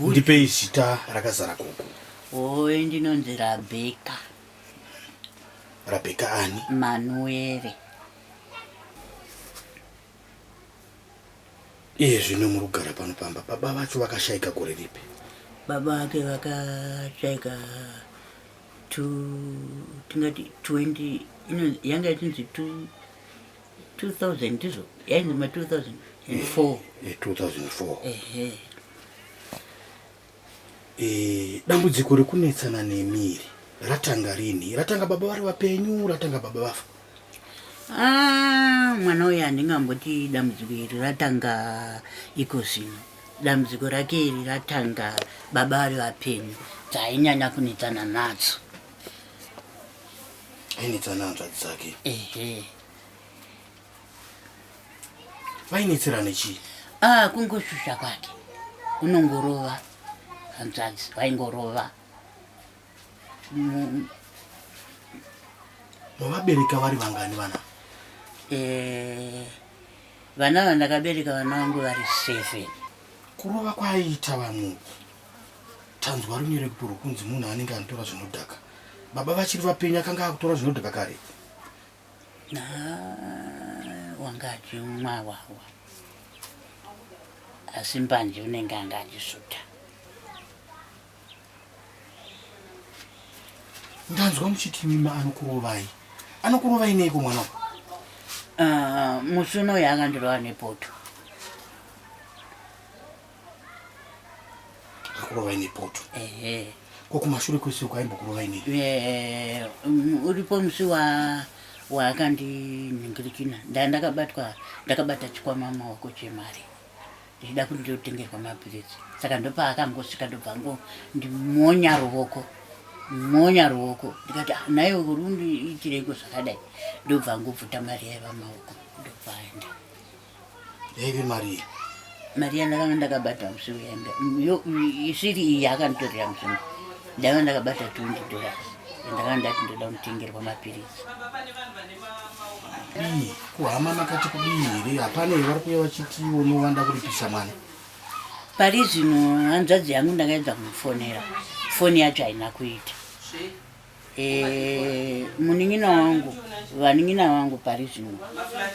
ndipei zita rakazara gogo oe ndinonzi rabheka rabheka ani manuere iye zvino muri kugara pano pamba baba vacho vakashaika gore ripi baba vake vakashaika tingati 20 yanga yatinzi 2 2000 ndizvo yainzi ma 2004 2004 ehe Eh, dambudziko rekunetsana nemiri ratanga rini ratanga baba vari vapenyu ratanga baba vafa Ah, mwana uyu handingamboti dambudziko iri ratanga iko zvino dambudziko rake iri ratanga baba vari vapenyu dzainyanya kunetsana nadzo ainetsana hanzvadzi dzake ehe vainetserane chii ah kungosvusva kwake unongorova hanzvadzi vaingorova Mu- mavabereka vari vangani vana eh, vana vandakabereka vana vangu vari seven kurova kwaiita vamwe Tanzwa runyereketo rwokunzi munhu anenge anotora zvinodhaka. Baba vachiri vapenyu akanga akutora zvinodhaka kare. Wanga achimwa wawa. Asi mbanje unenge anga achisuta. Ndanzwa muchiti mima anokurovai. Anokurovai neiko mwana? Ah, musi unoyo akandirova nepoto. akurova ine poto ko kumashure kwese uko aimbokurova ine mm, uripo musi wa waakandinhingirikina ndaa ndakabatwa ndakabata chikwama maoko chemari ndichida kuti ndiotengerwa mapiritsi saka ndopaakangosvika ndobva ngo ndimonya ruvoko monya ruoko ndikati ah, naye urundi itireiko zvakadai ndobva ngobvuta mari yaiva maoko ndobvaenda yaive marii mari yandakanga ndakabata musoro yanga isiri iyi yakanditorera musoro ndaiva ndakabata twenty dollars yandakanga ndati ndoda kutengerwa mapiritsi kudii kuhama makati kudii here hapana iye vari kuya vachiti unovanda kuripisa mwana pari zvino hanzvadzi yangu ndakaedza kumufonera foni yacho haina kuita Eh, munin'ina wangu vanin'ina vangu pari zvino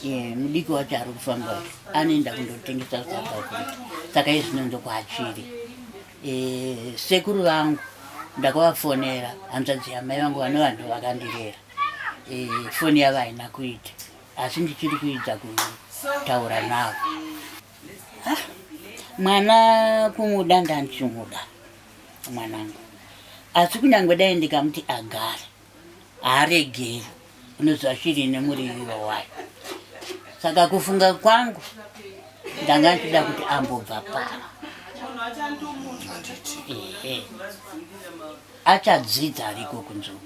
eh, mudiki wacho ari kufamba anoenda kundotengesa south africa saka izvino ndokuachiri eh, sekuru vangu ndakavafonera hanzvadzi yamai vangu vane vanhu vakandirera foni yavo haina kuita asi ndichiri kuidza kutaura navo ah, mwana kumuda ndandichimuda mwanangu asi kunyange dai ndikamuti agare haaregeri unoziva shiri ine muriviro wayo saka kufunga kwangu ndanga ndichida kuti ambobva pano achadzidza ariko kunzvuu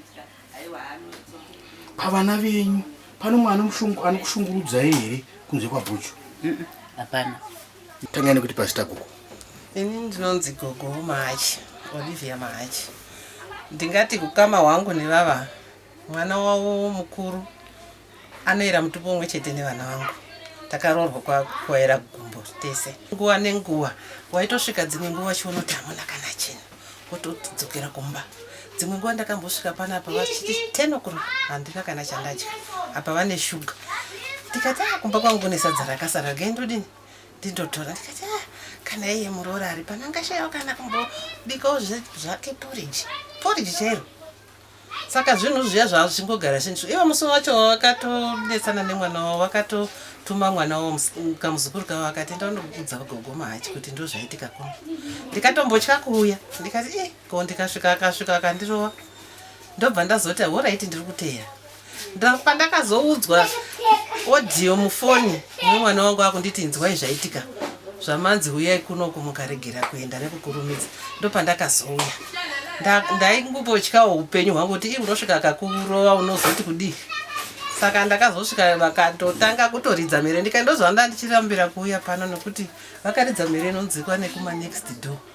pavana venyu pano mwana anokushungurudzai here kunze kwabhuchu hapana tangai nekuti pazita gogo ini ndinonzi gogo mahachi olivia mahachi ndingati kukama hwangu nevava mwana wavo mukuru Anoera mutupo umwe chete nevana vangu. Takaroorwa kwakuwaera gumbo tese. Nguva nenguva waitosvika dzimwe nguva wachiona kuti hamuna kana chinhu wotodzokera kumba. Dzimwe nguva ndakambosvika pana apa vachiti ten o'clock handina kana chandadya apa vane shuga ndikati a ah, kumba kwangu kune sadza rakasara rgai ndodini ndindotora ndikati a ah, kana iye muroora ari pano angashayawo kana kumbobikawo zvake poriji poriji chairo Saka zvinhu zviya zvava zvichingogara zvichindishupa. Ivo musi wacho wavakatonetsana nemwana wavo vakatotuma mwana wavo kamuzukuru kavo akati enda unokudza gogo mahachi kuti ndozvaitika kuno. Ndikatombotya kuuya ndikati eh ko ndikasvika akasvika akandirova ndobva ndazoti horaiti ndiri kuteera. pandakazoudzwa audio mufoni mwana wangu akunditi inzwai zvaitika zvamanzi huyai kuno kumukaregera kuenda nekukurumidza ndopandakazouya ndaingubotyawo upenyu hwangu kuti ii unosvika akakurova unozoti kudii saka ndakazosvika vakatotanga kutoridza mhere ndikaendozvanda ndichirambira kuuya pano nekuti vakaridza mhere inonzikwa nekuma next door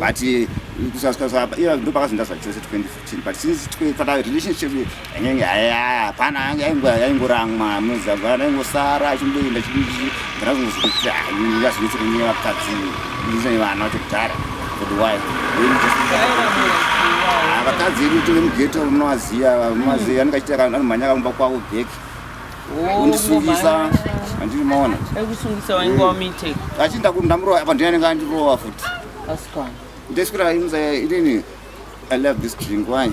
but eh, kusasasaiya ndo pakazinda zvachose 2015 but since fata relationship yanyange hapana yange yaingoramwa muzagwana yaingosara achimboenda chidii ndanazonozokuti yazvinetso kunye vakadzi izai vana vacho kudhara for the wife vakadzi edu tove mugeto unovaziva unovaziva anenge achiti anomhanya akamumba kwavo bheki kundisungisa andiri maona ekusungisa wainge wamite achinda kuti ndamurova apa ndiye anenge andirova futi asikana ndeswera imza inini i love this drink why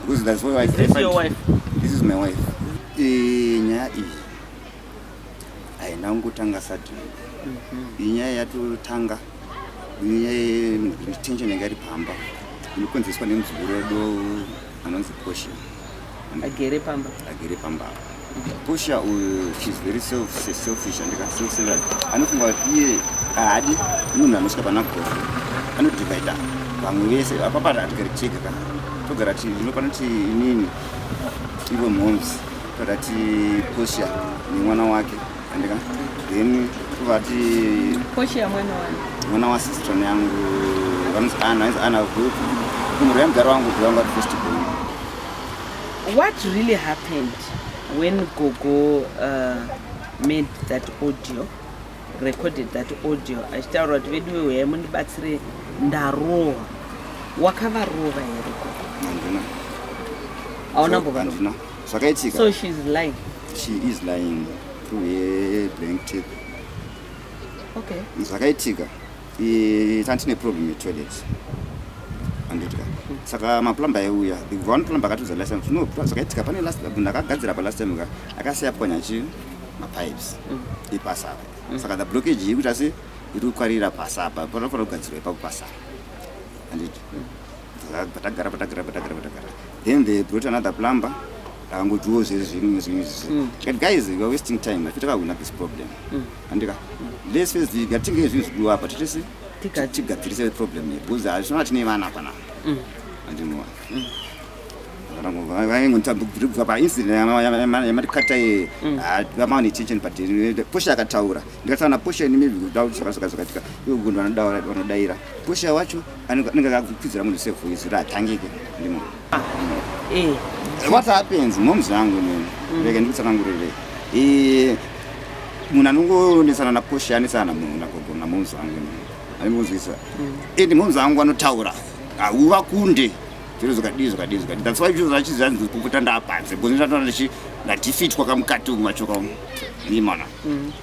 because that's why i Is this your wife? this is my wife Eh, nyaya iyi haina kungotanga sadini iyi nyaya yatotanga iyi nyaya yetension yanga iri pamba inokonzeswa nemuzukuru wedu anonzi poshi agere pamba agere pamba pusha uyu shes very selfish andikasosera anofunga kuti iye haadi munhu anosvika pana gore anodivaida vamwe vese apapata atigari chega ka togara ti inopana ti inini ivo mhoms togara ti pusha nemwana wake andika then tovati pusha mwana wani mwana wasistron yangu vanonzi ana ana kumurira mugaro wangu kuvangu ati festival What really happened when gogo uh, made that audio recorded that audio achitaura kuti veduwe uyai mundibatsire ndarohwa wakavarova here gogo handina hauna mbova handina zvakaitika so she is lying she is lying through her blank tape okay zvakaitika Eh, tanga tine problem yetoilet anditya saka maplumber aiuya ikubva one plumber akatiudza last time no zvakaitika pane last munhu akagadzira pa last time ka akasiya pwanya chi mapipes mm. ipasi apa mm. saka the blockage yekuti asi iri kukwarira pasi apa panofanira kugadzirwa ipapo pasi apa anditi mm. patagara patagara patagara patagara then they brought another plumber akangotiwo zviri zvimwe zvimwe zvizvi tikati guys weare wasting time afi takahwina this problem andika let's face the ngatinge zvinhu zvidiwa apa titese Tiga- tigadzirise problem yedu because hazvishona tine vana apa na Mm. andinova vaingontabva paincident yamarikata ye Mm. vamawa nechenchen but pusha akataura ndikataura napusha ini maybe kuda kuti zvaka- zvaka- zvakatika ivo gundu vanodaira pusha wacho anenge akakupidzira munhu sevoice ratangike ndimo Eh. What happens? Moms vangu nini. Mm. Vega ndikutsanangurire. Eh munhu anongonesana naposha anesana na munhu nagogo namoms vangu nini. Anongonzwisa. Mm. And eh, moms vangu anotaura. Hauva kunde. Zviro zvakadii zvakadii zvakadii. That's why zviro zvachizvi hanzi kukuta ndapanze. Because ndatoona ndichi ndadefeat kwakamukati umu machoka umu. Ni mwana. Mm.